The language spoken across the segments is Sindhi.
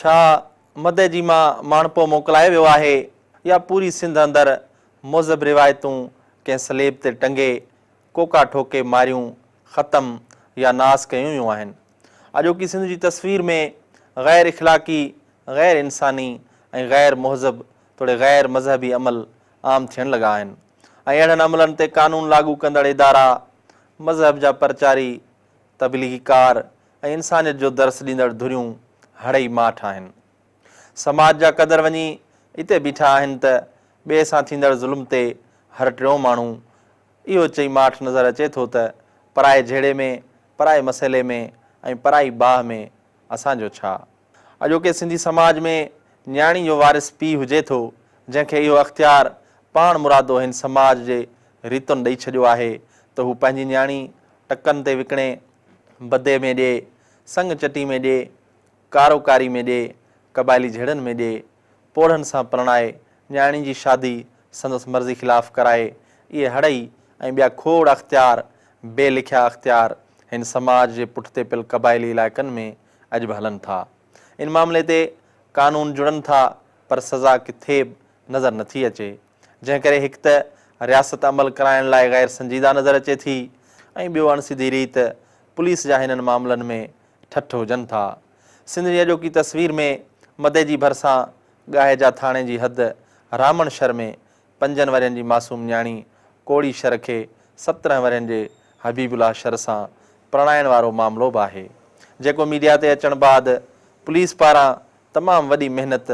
ڇا مدئي جي مان ماڻهپو موڪلايو ويو آهي يا پوري سنڌ اندر مذهب روايتون ڪنهن سليب تي ٽنگي، ڪوڪا ٺوڪي ماريون، ختم يا ناس ڪيون ويون آهن. اڄوڪي سنڌ جي تصوير ۾ غير اخلاقي، غير انساني ۽ غير مهذب توڙي غير مذهبي عمل عام ٿيڻ لڳا آهن ۽ اهڙن عملن تي قانون لاڳو ڪندڙ ادارا، مذهب جا پرچاري، تبليغي ڪار ۽ انسانيت جو درس ڏيندڙ ڌريون هڙئي ماٺ آهن. سماج جا قدر وڃي اتي بيٺا آهن ته ٻئي سان ٿيندڙ ظلم تي هر ٽيون ماڻهو اهو چئي ماٺ نظر اچي ٿو ته پرائي جهيڙي ۾ پرائي مسئلي ۾ ۽ پرائي باهه ۾ اسان جو ڇا؟ اڄوڪي سنڌي سماج ۾ نياڻي جو وارث پيء هجي ٿو، جنهن کي اهو اختيار پاڻ مرادو هن سماج جي ريتن ڏئي ڇڏيو آهي ته هو پنهنجي نياڻي ٽڪن تي وڪڻي، بدي ۾ ڏي، سڱ چٽي ۾ ڏي، ڪارو ڪاري ۾ ڏي، قبائلي جهيڙن ۾ ڏي. پوڙهن سان پرڻائي، نياڻي جي شادي سندس مرضي خلاف ڪرائي، اهي هڙئي ۽ ٻيا کوڙ اختيار، بي لکيا اختيار، هن سماج جي پٺتي پيل قبائلي علائقن ۾ اڄ به هلن ٿا. ان معاملي تي قانون جڙن ٿا پر سزا ڪٿي به نظر نٿي اچي. جنهن ڪري هڪ ته رياست عمل ڪرائڻ لاء غير سنجيده نظر اچي ٿي ۽ ٻيو اڻسڌي ريت پوليس جا هنن معاملن ۾ ٺٺ هجن ٿا. سنڌ جي اڄوڪي تصوير ۾ مدئي جي ڀرسان ڳاهيجا ٿاڻي جي حد رامڻ شھر ۾ پنجن ورهين جي معصوم نياڻي ڪوڙي شھر کي سترهن ورهين جي حبيب الله شھر سان پرڻائڻ وارو معاملو به آهي جيڪو ميڊيا تي اچڻ بعد پوليس پاران تمام وڏي محنت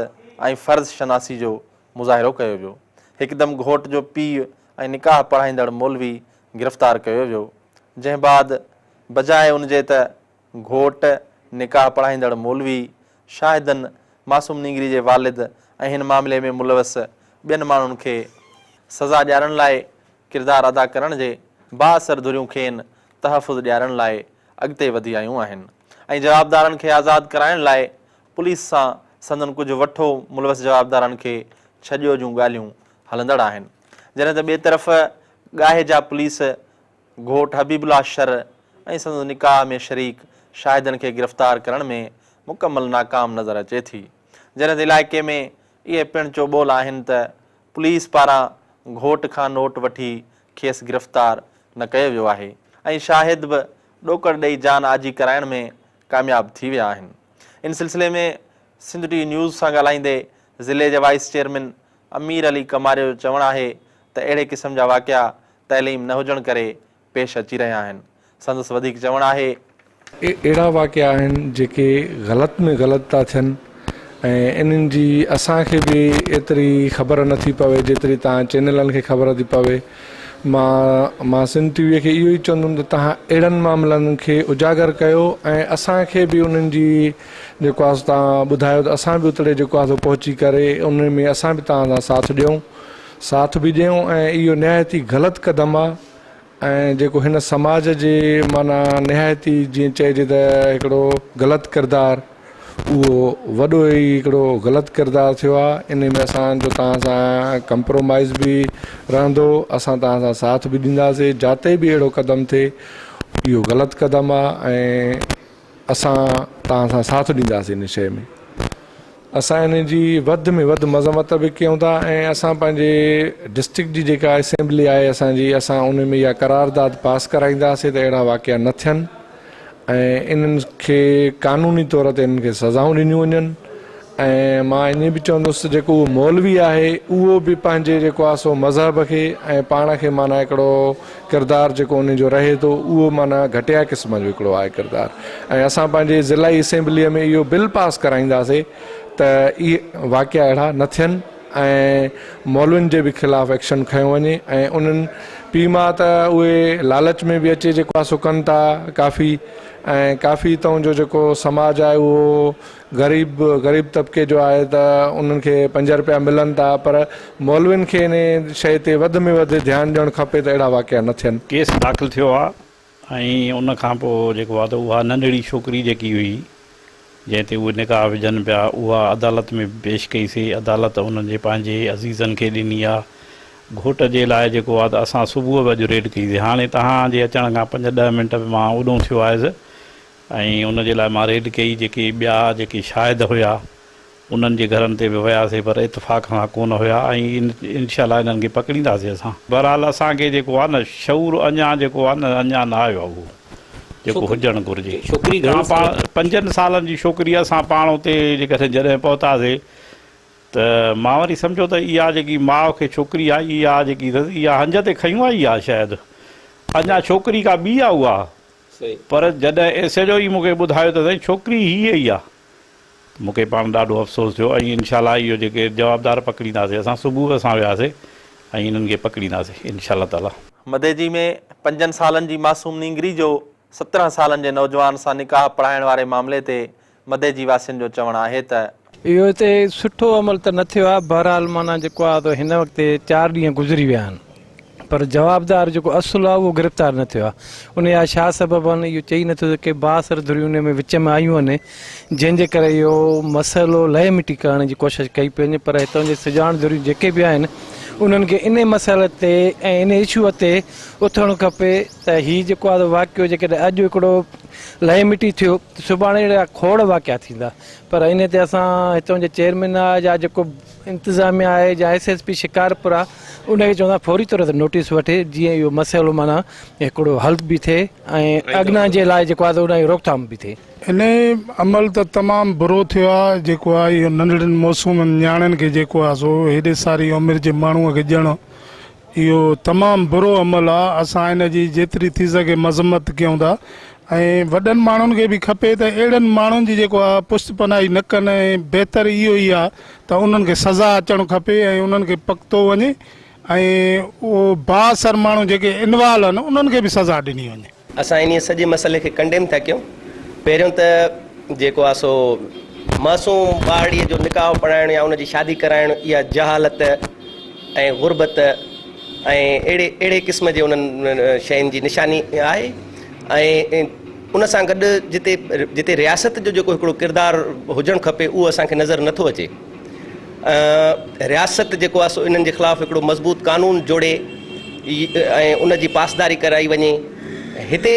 ۽ فرض شناسي جو مظاهرو ڪيو ويو هڪدم گهوٽ جو پيء ۽ نڪاح پڙهائيندڙ مولوي گرفتار ڪيو ويو جنهن بعد بجاء ان جي ته گهوٽ، نڪاح پڙهائيندڙ مولوي، شاهدن، معصوم نينگري جي والد ۽ هن معاملي ۾ ملوث ٻين ماڻهن کي سزا ڏيارڻ لاء ڪردار ادا ڪرڻ جي بااثر ڌريون کين تحفظ ڏيارڻ لاء اڳتي وڌي آيون آهن ۽ جوابدارن کي آزاد ڪرائڻ لاء پوليس سان سندن ڪجهه وٺو ملوث جوابدارن کي ڇڏيو جون ڳالهيون هلندڙ آهن جڏهن ته ٻئي طرف ڳاهي جا پوليس گهوٽ حبيب الله شر ۽ سندس نڪاح ۾ شريڪ شاهدن کي گرفتار ڪرڻ ۾ مڪمل ناڪام نظر اچي ٿي، جڏهن ته علائقي ۾ اهي پڻ چوٻول آهن ته پوليس پاران گهوٽ کان نوٽ وٺي کيس گرفتار نه ڪيو ويو آهي ۽ شاهد به ڏوڪڙ ڏئي جان آجي ڪرائڻ ۾ ڪامياب ٿي ويا آهن. ان سلسلي ۾ سنڌ ٽي نيوز سان ڳالهائيندي ضلعي جي وائيس چيئرمين امير علي ڪماري جو چوڻ آهي ته اهڙي قسم جا واقعا تعليم نه هجڻ ڪري پيش اچي رهيا آهن. سندس وڌيڪ چوڻ آهي. اهي اهڙا واقعا آهن جيڪي غلط ۾ غلط ٿا ٿين ۽ انهن جي اسان کي به ايتري خبر نه ٿي پوي جيتري توهان چينلن کي خبر ٿي پوي مان مان سنڌ ٽي وي کي اهو ئي چوندم ته توهان اهڙن معاملن کي اجاگر ڪيو ۽ اسان کي به انهن جي جيڪو آهي سو توهان ٻڌايو ته اسان به اتڙي جيڪو آهي سو پهچي ڪري انهن ۾ اسان به توهان سان ساٿ ڏيون. ساٿ به ڏيون ۽ اهو نهايت ئي غلط قدم آ ۽ جيڪو هن سماج جي معنيٰ نهايت ئي جيئن چئجي ته هڪڙو غلط ڪردار اهو وڏو ئي هڪڙو غلط ڪردار ٿيو آ انهي ۾ اسان جو توهان سان ڪمپرومائز به رهندو اسان توهان سان ساٿ به ڏينداسي جاتي به اهڙو قدم ٿئي اهو غلط قدم آ ۽ اسان توهان سان ساٿ ڏينداسين ان شيء ۾. اسان ان جي وڌ ۾ وڌ مذمت به ڪيون ٿا ۽ اسان پنهنجي ڊسٽرڪٽ جي جيڪا اسيمبلي آهي اسان جي اسان ان ۾ اها قرارداد پاس ڪرائينداسين ته اهڙا واقعا نه ٿين ۽ انهن کي قانوني طور تي انهن کي سزائون ڏنيون وڃن ۽ مان ائين به چوندس ته جيڪو اهو مولوي آهي اهو به پنهنجي جيڪو آهي سو مذهب کي ۽ پاڻ کي معنيٰ هڪڙو ڪردار جيڪو ان جو رهي ٿو اهو معنيٰ گهٽيا قسم جو هڪڙو آهي ڪردار ۽ اسان پنهنجي ضلعي اسيمبليء ۾ اهو بل پاس ڪرائينداسي ته اهي واقعا اهڙا نه ٿين ۽ مولوين جي به خلاف ايڪشن کنيو وڃي ۽ انهن پي ماء ته اهي لالچ ۾ به اچي جيڪو آهي سو ڪن ٿا ڪافي ۽ ڪافي تون جو جيڪو سماج آهي اهو غريب غريب طبقي جو آهي ته انهن کي پنج رپيا ملن ٿا پر مولوين کي انهي شيء تي وڌ ۾ وڌ ڌيان ڏيڻ کپي ته اهڙا واقعا نه ٿين. ڪيس داخل ٿيو آهي ۽ ان کان پوء جيڪو آهي ته اها ننڍڙي ڇوڪري جيڪي هئي جنهن تي اهي نڪاح وجهن پيا اها عدالت ۾ به پيش ڪئي سي عدالت انهن جي پنهنجي عزيزن کي ڏني آهي گهوٽ جي لاء جيڪو آهي ته اسان صبح به اڄ ريڊ ڪئي سي هاڻي توهان جي اچڻ کان پنج ڏهه منٽ مان اوڏهون ٿيو آهيس ۽ ان جي لاء مان ريڊ ڪئي، جيڪي ٻيا جيڪي شاهد هيا انهن جي گهرن تي به وياسي پر اتفاق سان ڪونه هيا ۽ انشاء الله انهن کي پڪڙينداسي اسان. بهرحال اسان کي جيڪو آهي نه شعور اڃا جيڪو آهي نه اڃا نه آيو آهي اهو جيڪو هجڻ گهرجي. اسان پاڻ پنجن سالن جي شوڪري اسان پاڻ اتي جيڪڏهن جڏهن پهتاسي ته مان وري سمجهيو ته اها جيڪي ماء کي ڇوڪري آئي اها جيڪي اٿس اها هنج تي کنيون آئي اها شايد اڃا ڇوڪري ڪا ٻي آهي اها. پر جڏهن ايس ايڇ او اي مون کي ٻڌايو ته سائين ڇوڪري هي ئي آ ته مون کي پاڻ ڏاڍو افسوس ٿيو ۽ انشاء الله اهو جيڪي جوابدار پڪڙينداسي اسان صبح اسان وياسي ۽ انهن کي پڪڙينداسي انشاء الله تعالي. مديجي ۾ پنجن سالن جي معصوم نينگري جو سترهن سالن جي نوجوان سان نڪاح پڙهائڻ واري معاملي تي مدي جي واسين جو چوڻ آهي ته. اهو هتي سٺو عمل ته نه ٿيو آهي بهرحال معنيٰ جيڪو آهي ته هن وقت چار ڏينهن گذري ويا آهن پر جوابدار جيڪو اصل آهي اهو گرفتار نه ٿيو آهي انهي جا ڇا سبب آهن اهو چئي نه ٿو سگهي بااثر ڌريون انهي ۾ وچ ۾ آيون آهن جنهن جي ڪري اهو مسئلو لئه مٽي ڪرڻ جي ڪوشش ڪئي پئي وڃي پر هتان جي سڄاڻ ڌريون جيڪي به آهن انهن کي انهي مسئلي تي ۽ انهي اشوء تي اٿڻ کپي ته هي جيڪو آهي واقعو جيڪڏهن اڄ هڪڙو لئه مٽي ٿيو ته سڀاڻي اهڙا کوڙ واقعا ٿيندا پر انهي تي اسان هتان جي چيئرمين آهي جا جيڪو انتظاميا آهي جا ايس ايس پي شڪارپور آهي انهي کي چوندا فوري طور تي نوٽيس وٺي جيئن اهو مسئلو معنيٰ هڪڙو حل به ٿئي ۽ اڳنا جي لاء جيڪو آهي انهي روڪٿام به ٿئي. انهي عمل ته تمام برو ٿيو آهي جيڪو آهي اهو ننڍڙين معصومن نياڻين کي جيڪو آهي سو هيڏي ساري عمر جي ماڻهو کي ڄڻ اهو تمام برو عمل آ اسان ان جي جيتري ٿي سگهي مذمت ڪيون ٿا ۽ وڏن ماڻهن کي به کپي ته اهڙن ماڻهن جي جيڪو آ پشت پناهي نه ڪن ۽ بهتر اهو ئي آ ته انهن کي سزا اچڻ کپي ۽ انهن کي پڪتو وڃي ۽ اهو بااثر ماڻهو جيڪي انوال ان انهن کي به سزا ڏني وڃي. اسان انهيء سڄي مسئلي کي ڪنڊيم ٿا ڪيون. پهريون ته جيڪو آهي سو معصوم ٻارڙيء جو نڪاح پڙهائڻ يا ان جي شادي ڪرائڻ اها جهالت ۽ غربت ۽ اهڙي اهڙي قسم جي انهن شين جي نشاني آهي ۽ ان سان گڏ جتي جتي رياست جو جيڪو هڪڙو ڪردار هجڻ کپي اهو اسان کي نظر نٿو اچي. ۽ رياست جيڪو آهي سو انهن جي خلاف هڪڙو مضبوط قانون جوڙي ۽ ان جي پاسداري ڪرائي وڃي هتي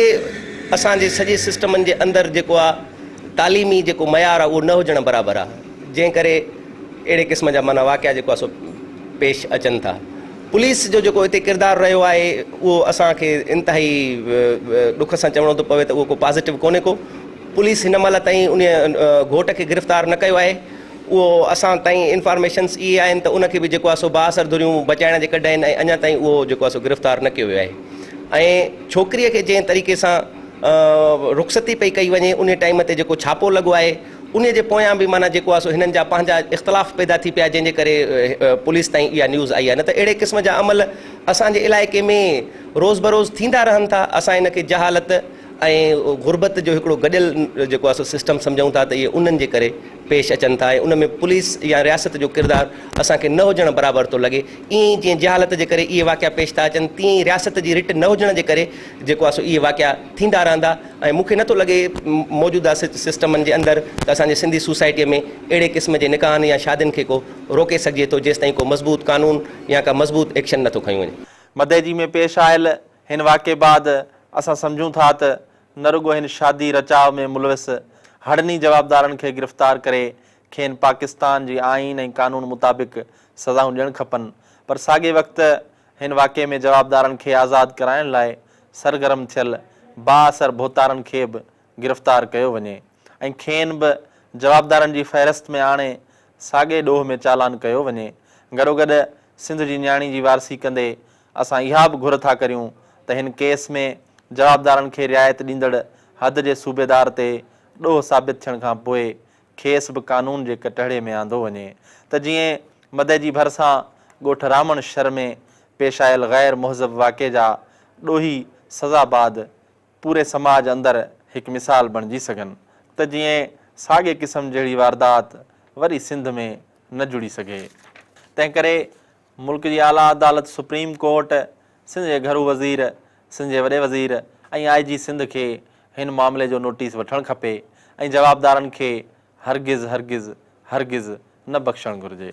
اسان جي سڄي سسٽمن جي اندر جيڪو آهي تعليمي جيڪو معيار آهي اهو نه هجڻ برابر آهي جنهن ڪري اهڙي قسم جا معنيٰ واقعا جيڪو آهي سو پيش اچن ٿا پوليس جو جيڪو هتي ڪردار رهيو آهي اهو اسان کي انتهائي ڏک سان چوڻو ٿو پوي ته اهو ڪو پازيٽو ڪونهي ڪو پوليس هن مهل تائين ان گهوٽ کي گرفتار نه ڪيو آهي اهو اسان تائين انفارميشنس اهي آهن ته ان کي به جيڪو آهي سو بااثر ڌريون بچائڻ جي ڪڍ آهن ۽ اڃا تائين اهو جيڪو آهي سو گرفتار نه ڪيو ويو آهي ۽ ڇوڪريء کي جنهن طريقي سان رخصتي پئي ڪئي وڃي انهي ٽائيم تي جيڪو ڇاپو لڳو آهي انهي جي پويان به معنيٰ جيڪو آهي سو هنن جا پنهنجا اختلاف پيدا ٿي پيا جنهن جي ڪري پوليس تائين اها نيوز آئي آهي نه ته اهڙي قسم جا عمل اسان جي علائقي ۾ روز بروز ٿيندا رهن ٿا اسان ان کي جهالت ۽ غربت جو هڪڙو گڏيل جيڪو آهي سو سسٽم سمجهون ٿا ته اهي انهن جي ڪري پيش اچن ٿا ۽ ان ۾ پوليس يا رياست جو ڪردار اسان کي نه هجڻ برابر ٿو لڳي ائين ئي جيئن جهالت جي ڪري اهي واقعا پيش ٿا اچن تيئن ئي رياست جي رٽ نه هجڻ جي ڪري جيڪو آهي سو اهي واقعا ٿيندا رهندا ۽ مون کي نه ٿو لڳي موجوده سسٽمن جي اندر ته اسان جي سنڌي سوسائٽي ۾ اهڙي قسم جي نڪاحن يا شادين کي ڪو روڪي سگهجي ٿو جيستائين ڪو مضبوط قانون يا ڪا مضبوط ايڪشن نه ٿو کنيو وڃي. مدئجي ۾ پيش آيل هن واقعي بعد اسان سمجهون ٿا ته نه رڳو هن شادي رچاء ۾ ملوث هڙني جوابدارن کي گرفتار ڪري کين پاڪستان جي آئين ۽ قانون مطابق سزائون ڏيڻ کپن پر ساڳئي وقت هن واقعي ۾ جوابدارن کي آزاد ڪرائڻ لاء سرگرم ٿيل بااثر ڀوتارن کي به گرفتار ڪيو وڃي ۽ کين به جوابدارن جي فهرست ۾ آڻي ساڳئي ڏوهه ۾ چالان ڪيو وڃي گڏوگڏ سنڌ جي نياڻي جي وارثي ڪندي اسان اها به گهر ٿا ڪريون ته هن ڪيس ۾ جوابدارن کي رعايت ڏيندڙ حد جي صوبيدار تي ڏوهه ثابت ٿيڻ کان پوء کيس به قانون جي ڪٽهڙي ۾ آندو وڃي ته جيئن مدئجي ڀرسان ڳوٺ رامڻ شھر ۾ پيش آيل غير مهذب واقعي جا ڏوهي سزا بعد پوري سماج اندر هڪ مثال بڻجي سگهن ته جيئن ساڳئي قسم جهڙي واردات وري سنڌ ۾ نه جڙي سگهي تنهنڪري ملڪ جي اعليٰ عدالت سپريم ڪورٽ، سنڌ جي گهرو وزير، سنڌ جي وڏي وزير ۽ آء جي سنڌ کي هن معاملي جو نوٽيس وٺڻ کپي ۽ جوابدارن کي هرگز هرگز هرگز نه بخشڻ گهرجي.